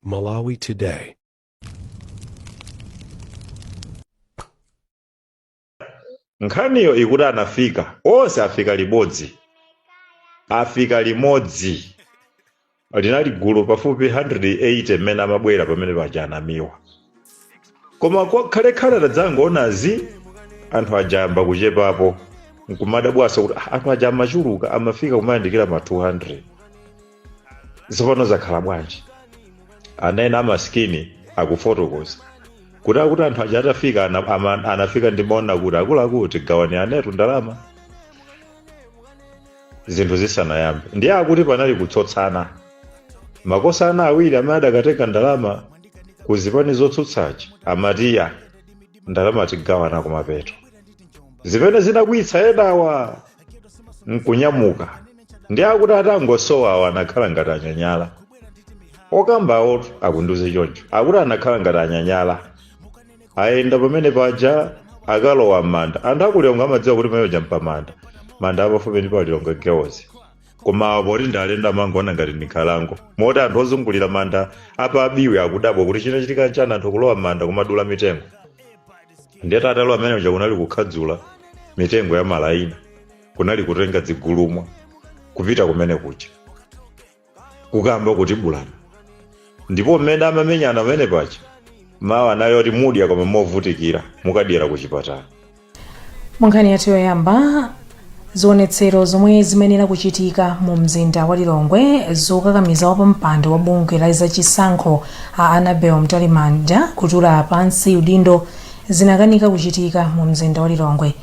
Malawi Today. nkhaniyo ikuti anafika onse afika limodzi afika limodzi linali gulu pafupi 180 mmene amabwera pamene paja a Namiwa koma khalekhale anadzangoona anthu aja ayamba kuchepapo nkumadabwanso kuti "Ah, anthu aja amachuluka amafika kumayandikira ma 200 tsopano zakhala bwanji ana ena amasikini akufotokoza kuti akuti anthu aja atafika ana- ama- anafika nkumanena kuti akuluakulu tigawaniranetu ndalama zinthu zisanayambe ndiye akuti panali kutsotsana mabwana awiri amene adakatenga ndalama ku zipani zotsutsazi amati iyayi ndalama tigawana kumapeto zimene zinakwiyitsa enawa nkunyamuka ndiye akuti atangosowa awo anakhala ngati anyanyala okambawo akundiuza choncho akuti anakhala ngati anyanyala ayenda pamene paja akulowa m'manda anthu a ku Lilongwe amadziwa kuti pamene paja mpamanda manda apafupi ndi pa Lilongwe Girls koma poti ndi alendo amangoona ngati ndi nkhalango moti anthu ozungulira manda a pa Biwi akudabwa kuti chinachitika nchani anthu kulowa m'manda kumadula mitengo ndiyetu atalowa mmene muja kunali kukhadzula mitengo ya malaina kunali kutenga zigulumwa kupita kumene kuja kukayamba kutibulana ndipo mmene amamenyana pamene paja mawu anali oti mudya koma movutikira mukadyera ku chipatala munkhani yathu yoyamba zionetsero zomwe zimayenera kuchitika mu mzinda wa lilongwe zokakamiza wapampando wa bungwe la zachisankho a annabel mtalimanja kutula pansi udindo zinakanika kuchitika mu mzinda wa lilongwe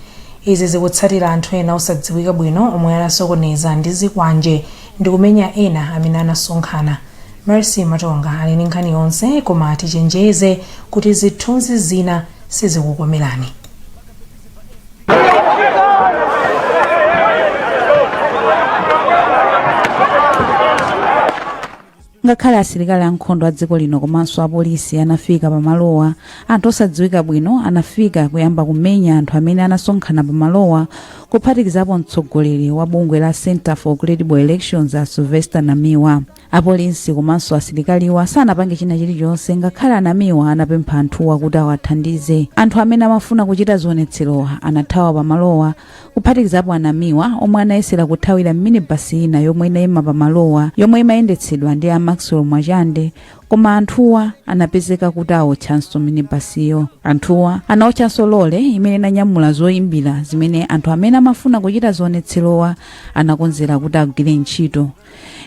izi zikutsatira anthu ena osadziwika bwino omwe anasokoneza ndi zikwanje ndi kumenya ena amene anasonkhana Mercy Matonga ali ndi nkhani yonse koma tichenjeze kuti zithunzi zina sizikukomerani. ngakhale asilikali ankhondo a dziko lino komanso apolisi anafika pamalowa anthu osadziwika bwino anafika kuyamba kumenya anthu amene anasonkhana pamalowa kuphatikizapo mtsogoleri wa bungwe la center for credible elections a sylvester namiwa Apolisi komanso asilikaliwa sanapange china chilichonse ngakhale a Namiwa anapempha anthuwa kuti awathandize. Anthu amene amafuna kuchita zionetserowa anathawa pamalowa kuphatikizapo a Namiwa omwe anayesera kuthawira m'minibasi ina yomwe inaima pamalowa yomwe imayendetsedwa ndi a Maxwell Mwachande koma anthuwa anapezeka kuti aotchanso minibasiyo. Anthuwa anaotchanso lole imene inanyamula zoimbira zimene anthu amene amafuna kuchita zionetserowa anakonzera kuti agwiritse ntchito.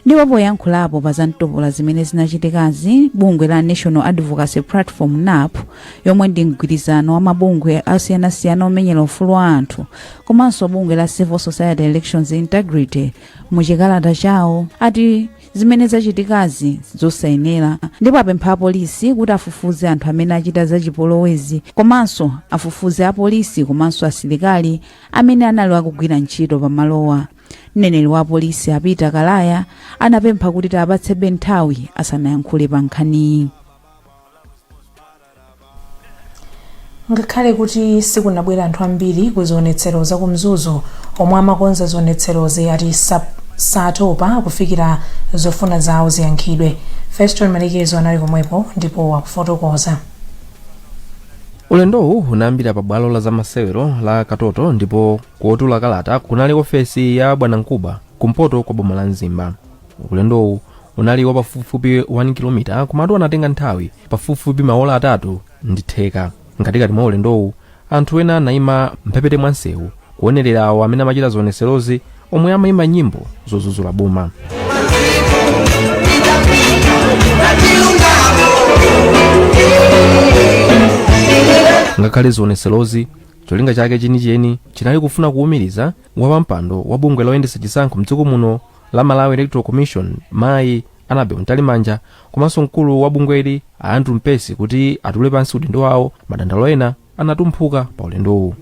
ndipo poyankhulapo pa zamtopola zimene zinachitikazi bungwe la national advocacy platform nap yomwe ndi mgwirizano wa mabungwe asiyanasiyana omenyera ufulu wa anthu komanso bungwe la civil society elections integrity mu chikalata chawo ati zimene zachitikazi zosayenera ndipo apempha apolisi kuti afufuze anthu amene achita zachipolowezi komanso afufuze apolisi komanso asilikali amene anali akugwira ntchito pamalowa Mneneri wa apolisi a Peter Kalaya anapempha kuti tiwapatsebe nthawi asanayankhule pa nkhaniyi. ngakhale kuti sikunabwera anthu ambiri ku zionetsero za ku mzuzu omwe amakonza zionetserozi ati satopa kufikira zofuna zawo ziyankhidwe feston malekezo anali komweko ndipo akufotokoza ulendowu unayambira pa bwalo la zamasewero la katoto ndipo kotulira kalata kunali ku ofesi ya bwanamkubwa kumpoto kwa boma la mzimba ulendowu unali wapafupifupi 1 kilomita komatu anatenga nthawi pafupifupi maola atatu ndi theka mkatikati mwa ulendowu anthu ena anayima mphepete mwa msewu kuonerera awo amene amachita zionetserozi omwe amayimba nyimbo zodzudzula boma ngakhale zionetserozi cholinga chake chenicheni chinali kufuna kuwumiriza wapampando wa bungwe loyendetsa chisankho mdziko muno la malawi electoral commission mayi anabel mtalimanja komanso mkulu wa bungweli a andrew mpesi kuti atule pansi udindo wawo madandaulo ena anatumphuka pa ulendowu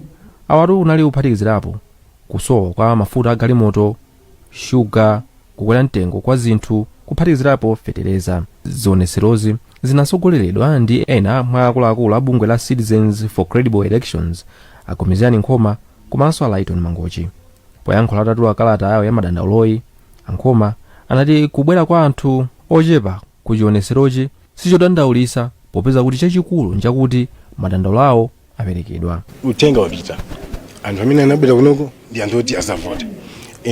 awatu anali kuphatikizirapo kusowa kwa mafuta a galimoto shuga, kukwera mtengo kwa zinthu, kuphatikizirapo fetereza. Zionetserozi zinatsogoleredwa ndi ena mwa akuluakulu a bungwe la Citizens for Credible Elections, a Gomezani Nkhoma komanso a Lyton Mangochi. Poyankhula atatula kalata yawo ya madandauloyi, a Nkhoma anati kubwera kwa anthu ochepa ku chionetserochi sichodandaulitsa popeza kuti chachikulu nchakuti madandaulo awo aperekedwa uthenga wapita anthu amene anabwera kunoko ndi anthu oti adzavota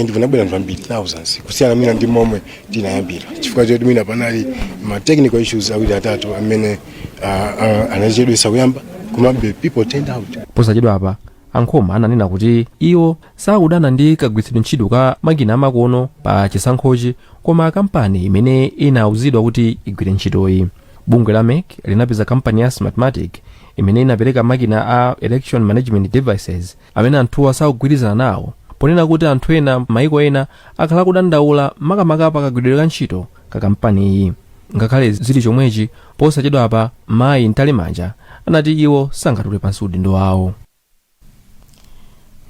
and kunabwera anthu ambiri thousands kusiyana mwina ndi momwe tinayambira chifukwa choti mwina panali ma technical issues awiri atatu amene uh, uh, anachedwesa kuyamba komabe people turned out posachedwa apa ankhoma ananena kuti iwo sakudana ndi kagwiritsidwe ntchito ka makina amakono pa chisankhochi koma kampani imene inauzidwa kuti igwire ntchitoyi bungwe la mec linapeza kampani ya smartmatic imene inapereka makina a election management devices amene anthuwa sakugwirizana nawo ponena kuti anthu ena maiko ena akhala akudandaula makamaka pa kagwiridwe ka ntchito ka kampaniyi ngakhale zili chomwechi posachedwapa mayi mtalimanja anati iwo sangatule pansi udindo wawo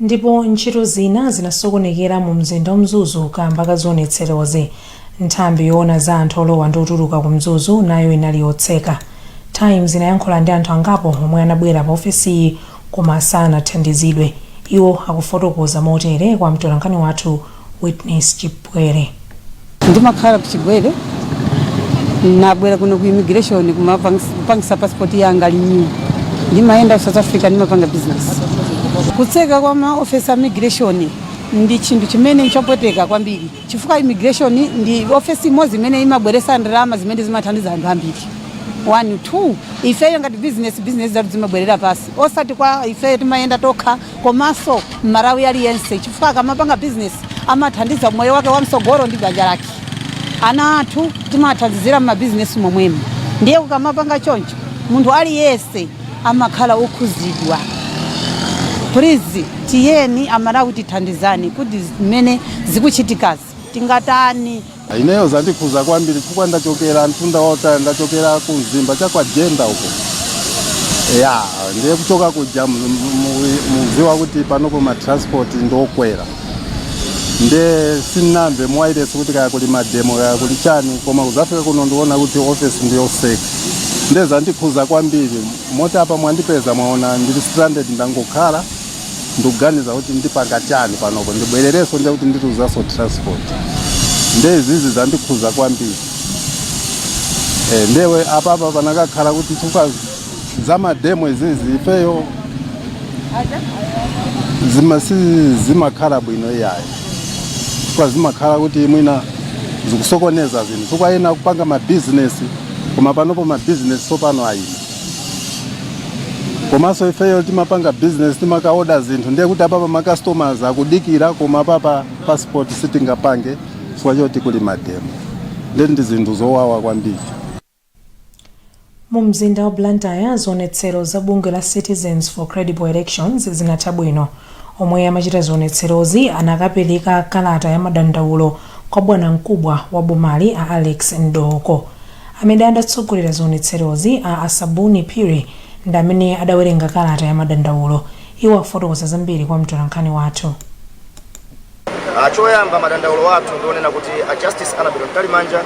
Ndipo ntchito zina zinasokonekera mu mzinda wa Mzuzu kamba ka zionetserozi. Nthambi yoona za anthu olowa ndi otuluka ku Mzuzu nayo inali yotseka. Times inayankhula ndi anthu angapo omwe anabwera pa ofesiyi koma sanathandizidwe. Iwo akufotokoza motere kwa mtolankhani wathu Witness Chipwere. Ndimakhala ku Chigwere, nabwera kuno ku immigration kuzapangisa passport yanga renew. Ndimayenda ku South Africa ndimapanga business. Kutseka kwa ma office a immigration ndi chinthu chimene nchopweteka kwambiri chifukwa immigration ndi office imodzi imene imabweresa ndalama zimene zimathandiza anthu ambiri one two ifeyo ngati business ma business athu zimabwerera pasi osati kwa ifeyo timayenda tokha komanso mmalawi aliyense chifukwa akamapanga business amathandiza moyo wake wamsogolo ndi banja lake ana athu timathandizira mmabizinesi momwemo ndiye kukamapanga choncho munthu aliyense amakhala okhuzidwa please tiyeni amalawi tithandizani kuti zimene zikuchitikazi tingatani? Ineyo zandikhuza kwambiri chifukwa ndachokera mtunda wautali, ndachokera ku Mzimba cha kwa Jenda uko ya ndiye kuchoka kuja mu- mu- mu- muziwa kuti panopo ma transport ndiokwera nde sinamve mwairesi kuti kaya kuli mademo kaya kuli chani koma kuzafika kuno ndiona kuti office ndiyoseka nde zandikhuza kwambiri moti apa mwandipeza mwaona ndili stranded ndangokhala ndikuganiza kuti ndipanga chani panopo ndibwererenso ndiye kuti ndiluzanso transport nde izizi zandikhuza kwambiri e, ndewe apapa panakakhala kuti chifukwa za mademo izizi ifeyo zima sizimakhala bwino iyayi chifukwa zimakhala kuti mwina zikusokoneza zinthu chifukwa ena kupanga mabizinesi koma panopo mabizinesi sopano ayima komanso ifeyo timapanga business timakaoda zinthu ndiye kuti apapa ma customers akudikira koma apapa passport sitingapange chifukwa choti kuli mademo ndiye ndi zinthu zowawa kwambiri mu mzinda wa blantyre zionetsero za bungwe la citizens for credible elections zinatha bwino omwe amachita zionetserozi anakapereka kalata ya madandaulo kwa bwanamkubwa wa bomali a alex mdooko Amene adatsogolera zionetserozi, a Asabuni Phiri, ndi amene adawerenga kalata ya madandaulo. Iwo afotokoza zambiri kwa mtolankhani wathu. Choyamba madandaulo athu ndi onena kuti a Justice Annabel Mtalimanja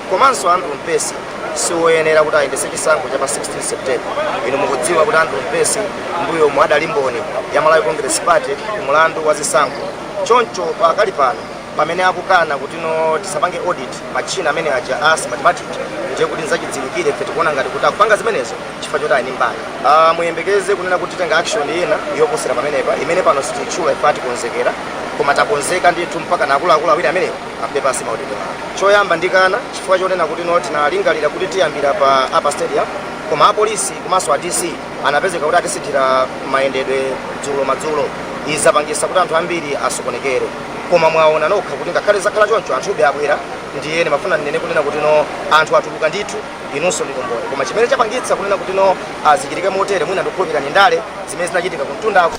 komanso Andrew Mpesi siwoyenera kuti ayendetse chisankho cha pa 16 September. Inu mukudziwa kuti Andrew Mpesi m'mbuyomu adali mboni ya Malawi Congress Party ku mlandu wa zisankho choncho pakali pano, pamene akukana kuti no tisapange audit matchina amene aja a smartmatic ndiye kuti nzachidziwikire ife tikuona ngati kuti akupanga zimenezo chifukwa choti ali mbali uh, muyembekeze kunena kuti titenga action ina yoposera pamenepa imene pano sititchula ifeyo tikonzekera koma takonzeka ndithu mpaka akuluakulu awiri amenewo atule pansi maudindo awo choyamba ndikanena chifukwa chonena kuti no tinalingalira kuti tiyambira pa upper stadium koma apolisi komanso a dc anapezeka kuti atisinthira mayendedwe dzulo madzulo izi zapangisa kuti anthu ambiri asokonekere koma mwaona nokha kuti ngakhale zakhala choncho anthube abwera ndiye ndimafuna ndinene kunena kuti no anthu atuluka ndithu inunso ndi umboni koma chimene chapangitsa kunena kuti no zichitike motere mwina ndikukhulupirira ndi ndale zimene zinachitika kumtundako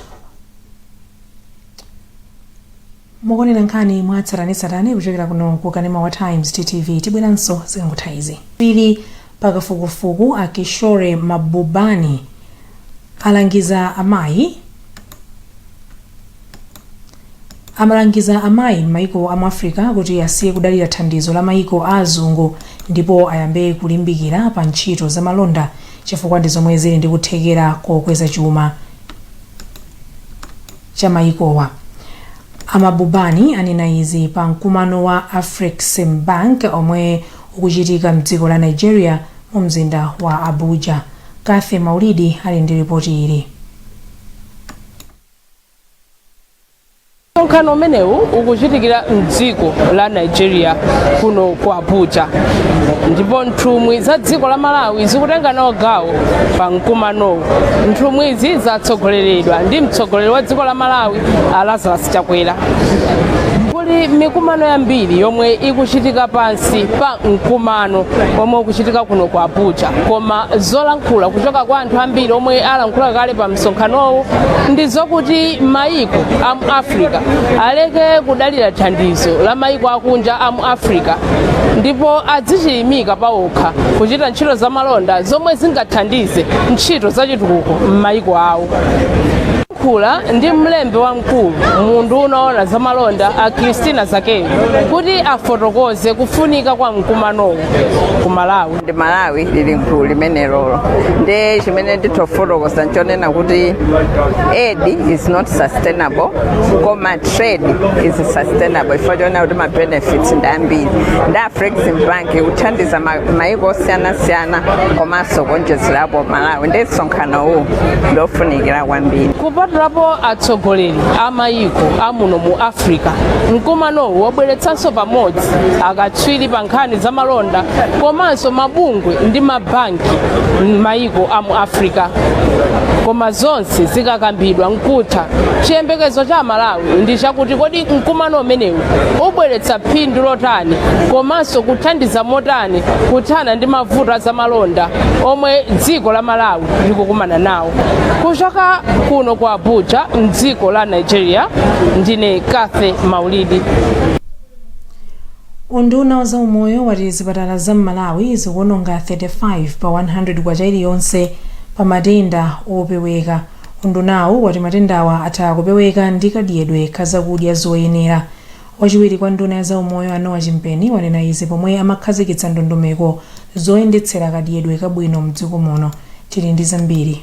mukuonera nkhani mwa tsatanetsatane kuchokera kuno ku kanema wa times ttv tibweranso zikangotha izi katswiri pakafukufuku a kishore mahbubani alangiza amayi amalangiza amayi m'mayiko a mu Africa kuti asiye kudalira thandizo la mayiko a azungu ndipo ayambe kulimbikira pa ntchito za malonda chifukwa ndi zomwe zili ndi kuthekera kokweza chuma cha mayikowa. A Mahbubani anena izi pa mkumano wa Afreximbank omwe ukuchitika mdziko la Nigeria mu mzinda wa Abuja. Cathy Maulidi ali ndi lipoti ili. msonkhano umenewu ukuchitikira mdziko la nigeria kuno ku abuja ndipo nthumwi za dziko la malawi zikutenga nawo gawo pa mkumanowu nthumwizi zatsogoleredwa ndi mtsogoleri wa dziko la malawi a lazarus chakwera kuli mikumano yambiri yomwe ikuchitika pansi pa mkumano omwe ukuchitika kuno ku abuja koma zolankhula kuchoka kwa anthu ambiri omwe alankhula kale pa msonkhanowu ndi zokuti mayiko a mu africa aleke kudalira thandizo la mayiko akunja a mu africa ndipo adzichilimika pawokha kuchita ntchito za malonda zomwe zingathandize ntchito za chitukuko m'mayiko awo ndalankhula ndi mlembi wamkulu mu unduna woona za malonda a christina zakeyu kuti afotokoze kufunika kwa mkumanowu ku malawi ndiye malawi ili mgulu limenelolo ndiye chimene nditofotokoza nchonena kuti aid is not sustainable koma trade is sustainable chifukwa chonena kuti mabenefits ndi ambiri ndiye afrexim bank ikuthandiza ma- maiko osiyanasiyana komanso kuonjezerapo malawi ndiye msonkhano uwu ndiofunikira kwambiri kupatulapo atsogoleri a mayiko amuno mu africa mkumanowu wabweretsanso pamodzi akatswiri akatswiri pa nkhani za malonda komanso mabungwe ndi mabanki m'mayiko a mu africa koma zonse zikakambidwa nkutha chiyembekezo cha malawi ndi chakuti kodi mkumano umenewu ubweretsa phindu lotani komanso kuthandiza motani kuthana ndi mavuto a zamalonda omwe dziko la malawi likukumana nawo kuchoka kuno ku abuja mdziko la nigeria ndine kathe maulidi Unduna wa zaumoyo wati zipatala za m'Malawi zikuononga 35 pa 100 kwacha iliyonse pa matenda opeweka. Undunawu wati matendawa atha kupeweka ndi kadyedwe ka zakudya zoyenera. Wachiwiri kwa nduna ya zaumoyo a Noah Chimpeni wanena izi pomwe amakhazikitsa ndondomeko zoyendetsera kadyedwe kabwino mdziko muno. Tili ndi zambiri.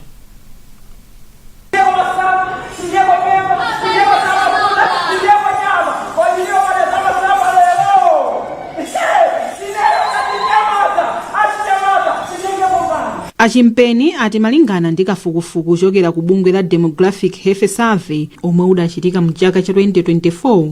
A Chimpeni ati malingana ndi kafukufuku ochokera ku bungwe la Demographic Health Survey omwe udachitika mu chaka cha 2024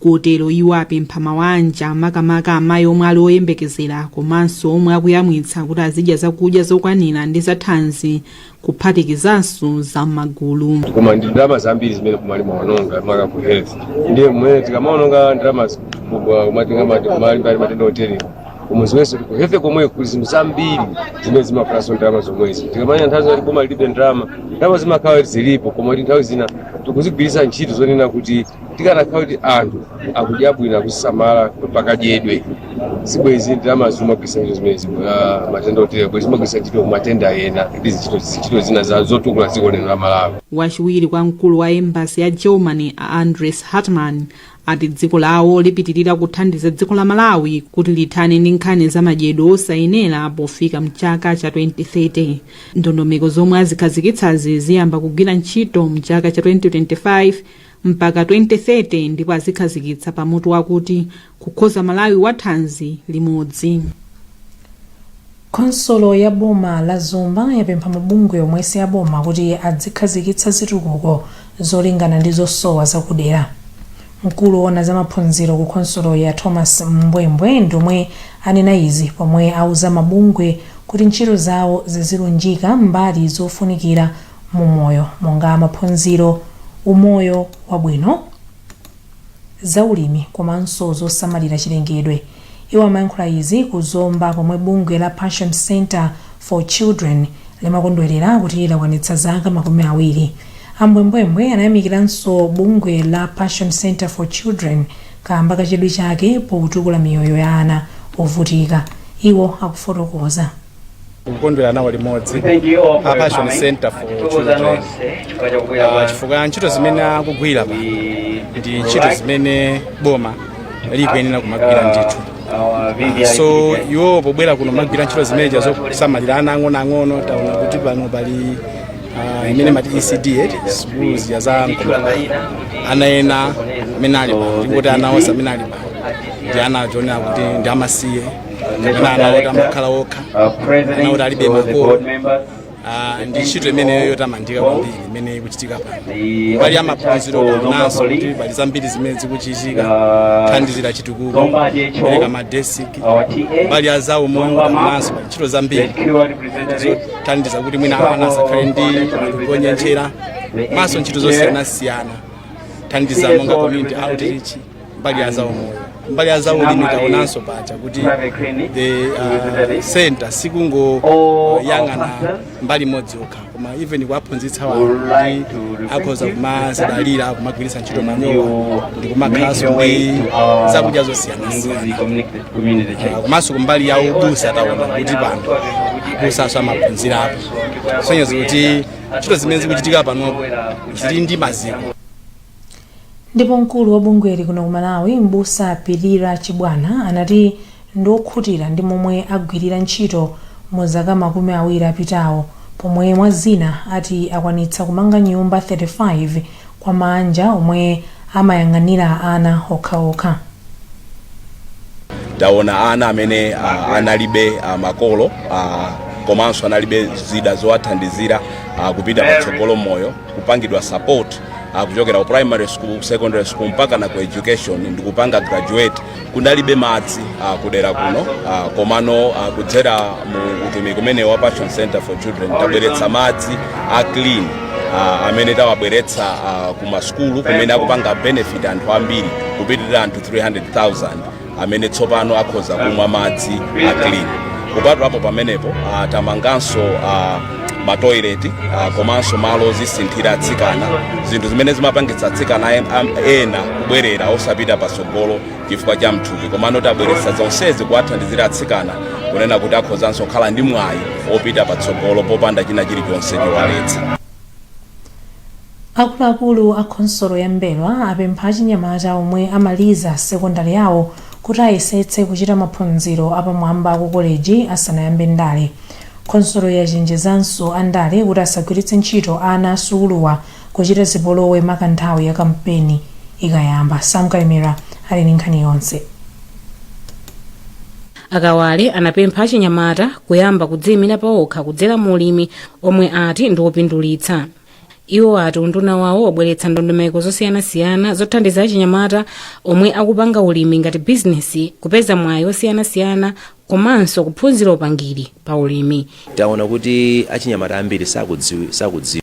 kotero iwo apempha mawanja makamaka amayi omwe ali oyembekezera komanso omwe akuyamwitsa kuti azidya zakudya zokwanira ndi zathanzi kuphatikizanso za m'magulu koma ndi ndalama zambiri zimene boma limaononga maka ku health ndiye mmene tikamaononga ndalama kumatenda malimbali matenda otere koma ziwenso ku health komwe kuli zinthu zambiri zimene zimafunanso ndalama zomwezi tikamanena nthawi zoti boma lilibe ndalama ndalama zimakhala zilipo koma kuti nthawi zina tikuzigwiritsa ntchito zonena kuti tikanakhala kuti anthu akudya bwino akusamala pakadyedwe sibwezi ndalama zimagwiritsa ntchito zimene zino matenda otere bwezi zimagwiritsa ntchito kumatenda ena ndi zintchito zintchito zina za- zotukula dziko lino la malawi wachiwiri kwa mkulu wa embassy ya germany a andres hartmann ati dziko lawo lipitirira kuthandiza dziko la malawi kuti lithane ndi nkhani za madyedwe osayenera pofika mchaka cha 2030 ndondomeko zomwe azikhazikitsazi ziyamba kugwira ntchito mchaka cha 2025 mpaka 2030 ndipo azikhazikitsa pa mutu wakuti kukonza malawi wa thanzi limodzi khonsolo ya boma la zomba yapempha mabungwe omwe si aboma kuti adzikhazikitsa zitukuko zolingana ndi zosowa zakudera mkulu woona za maphunziro ku khonsoloyi a thomas mbwembwe ndiomwe anena izi pomwe auza mabungwe kuti ntchito zawo zizilunjika mbali zofunikira mu moyo monga maphunziro, umoyo wabwino, zaulimi komanso zosamalira chilengedwe. Iwo amayankhula izi ku Zomba pomwe bungwe la Passion Centre for Children limakondwerera kuti lakwanitsa zaka makumi awiri. A Mbwembwembwe anayamikiranso bungwe la Passion Centre for Children kaamba ka chidwi chake potukula miyoyo ya ana ovutika. Iwo akufotokoza. kukondwera nawo limodzi a passion center for children Ah, chifukwa ntchito zimene akugwira pa ndi ntchito zimene boma likuyenera kumagwira ndithu Ah, so iwo pobwera kuno kumagwira ntchito zimeneja zosamalira ana ang'onoang'ono taona kuti pano pali ah, imene mati ecd eti sukulu zija za mkulu ana ena amene alipa ndikuti ana onse amene alipa ndi ana oti ndi amasiye Ena ana oti amakhala okha. Ana oti alibe makolo. Ah, ndi ntchito imeneyo yotamandika kwambiri imene ikuchitika pano pali zamaphunziro taonanso kuti pali zambiri zimene zikuchitika kuthandizira chitukuko kupereka madesiki pali zaumoyo taonanso pali ntchito zambiri zothandiza kuti mwina ana asakhale ndi kunyentchera komanso ntchito zosiyanasiyana zothandiza monga community outreach mbali ya zaumoyo mbali ya zaulimi taonanso paja kuti the uh, center sikungoyang'ana mbali imodzi yokha koma even kuwaphunzitsa anthu kuti akhoza kumazidalira kumagwiritsa ntchito manyowa ndi kumakhalanso ndi zakudya zosiyanasiyana Ah, komanso kumbali ya ubusa taona kuti pano abusanso amaphunzirapo kusonyeza kuti ntchito zimene zikuchitika panopo zili ndi maziko Ndipo mkulu wa bungweli kuno ku Malawi m'busa Pilira Chibwana anati ndi okhutira ndi momwe agwirira ntchito mu zaka makumi awiri zapitazo pomwe mwa zina ati akwanitsa kumanga nyumba 35 kwa maanja omwe amayang'anira ana okhaokha. Taona ana amene analibe makolo komanso analibe zida zowathandizira kupita patsogolo m'moyo. kupangidwa support uh, kuchokera ku primary school secondary school mpaka na ku education ndikupanga graduate kunalibe madzi uh, kudera kuno uh, komano uh, kudzera mu utumiki umenewu wa passion center for children tabweretsa madzi a clean uh, amene tawabweretsa uh, ku masukulu kumene akupanga benefit anthu ambiri kupitirira anthu 300000 amene tsopano akhoza kumwa madzi a clean kupatulapo pamenepo uh, tamanganso uh, matoileti uh, komanso malo ozisinthira atsikana zinthu zimene zimapangitsa atsikana en- am- ena kubwerera osapita patsogolo chifukwa cha mthupi komano tabweretsa zonsezi kuwathandizira atsikana kunena kuti akhozanso kukhala ndi mwayi opita patsogolo popanda china chilichonse chowaletsa Akuluakulu a khonsolo ya Mbelwa apempha achinyamata omwe amaliza sekondale awo kuti ayesetse kuchita maphunziro apamwamba ku koleji asanayambe ndale. Khonsoloyi yachenjezanso andale kuti asagwiritse ntchito ana a sukuluwa kuchita zipolowe maka nthawi ya kampeni ikayamba. Sam Kalimira ali ndi nkhani yonse. A Kawale anapempha achinyamata kuyamba kudziyimira paokha kudzera mu ulimi omwe ati ndi wopindulitsa. Iwo ati unduna wawo wabweretsa ndondomeko zosiyanasiyana zothandiza achinyamata omwe akupanga ulimi ngati bizinesi kupeza mwayi osiyanasiyana komanso kuphunzira upangiri pa ulimi. Taona kuti achinyamata ambiri sakudziwi, sakudziwa.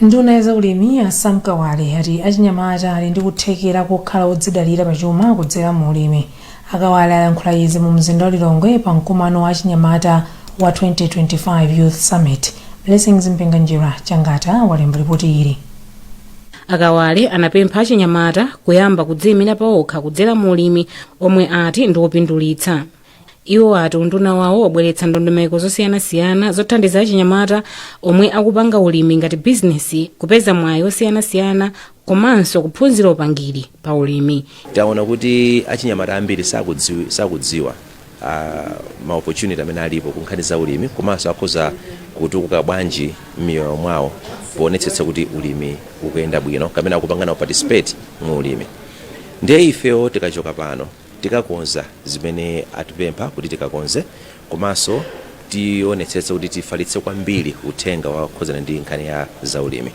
Nduna ya zaulimi a Sam Kawale ati achinyamata ali ndi kuthekera kokhala odzidalira pachuma kudzera mu ulimi. A Kawale ayankhula izi mu mzinda wa Lilongwe pa mkumano wa achinyamata wa 2025 Youth Summit. Blessings Mpinganjira Changata walemba lipoti ili. a kawale anapempha achinyamata kuyamba kudziyimira paokha kudzera mu ulimi omwe ati ndi wopindulitsa iwo ati unduna wawo wabweretsa ndondomeko zosiyanasiyana zothandiza achinyamata omwe akupanga ulimi ngati bizinesi kupeza mwayi osiyanasiyana komanso kuphunzira upangiri pa ulimi taona kuti achinyamata ambiri sakudziwi- sakudziwa a ma opportunity amene alipo ku nkhani za ulimi komanso akhoza kutukuka bwanji m'miyoyo mwawo poonetsetsa kuti ulimi ukuyenda bwino kapena akupanga nawo participate mu ulimi ndiye ifewo tikachoka pano tikakonza zimene atipempha kuti tikakonze komanso tionetsetsa kuti tifalitse kwambiri uthenga okhudzana ndi nkhani ya zaulimi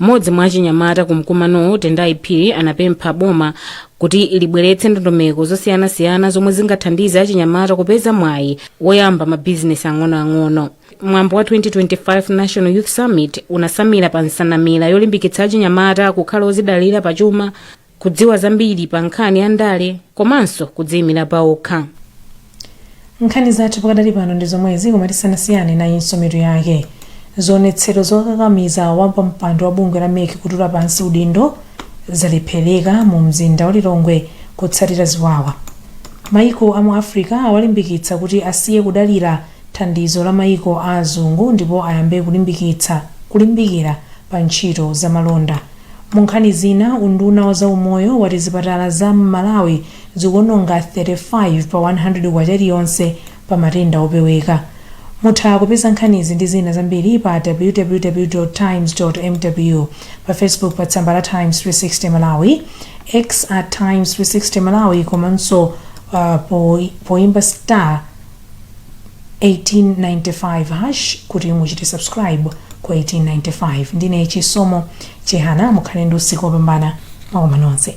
mmodzi mwa achinyamata ku mkumanowo tendai phiri anapempha boma kuti libweretse ndondomeko zosiyanasiyana zomwe zingathandize achinyamata kupeza mwayi woyamba mabizinesi ang'onoang'ono mwambo wa 2025 national youth summit unasamira pa nsanamira yolimbikitsa achinyamata kukhala ozidalira pachuma kudziwa zambiri pa nkhani ya ndale komanso kudziyimira pa okha nkhani zathu pakadali pano ndi zomwezi koma tisanasiyane nayinso mitu yake zionetsero zokakamiza wapampando wa bungwe la mec kutula pansi udindo zalephereka mu mzinda wa lilongwe kutsatira ziwawa maiko a mu africa awalimbikitsa kuti asiye kudalira thandizo la maiko a azungu ndipo ayambe kulimbikitsa kulimbikira pa ntchito za malonda Mu nkhani zina, unduna wa za umoyo wati zipatala za m'Malawi zikuononga 35 pa K100 iliyonse pa matenda opeweka. Mutha kupeza nkhanizi ndi zina zambiri pa www. Times. mw, pa Facebook pa tsamba la Times 360 Malawi, X at Times 360 Malawi komanso uh, po, poimba star 1895 hash kuti muchite subscribe ku 1895 ndine chisomo chihana mukhale ndi usiku wopambana zikomo nonse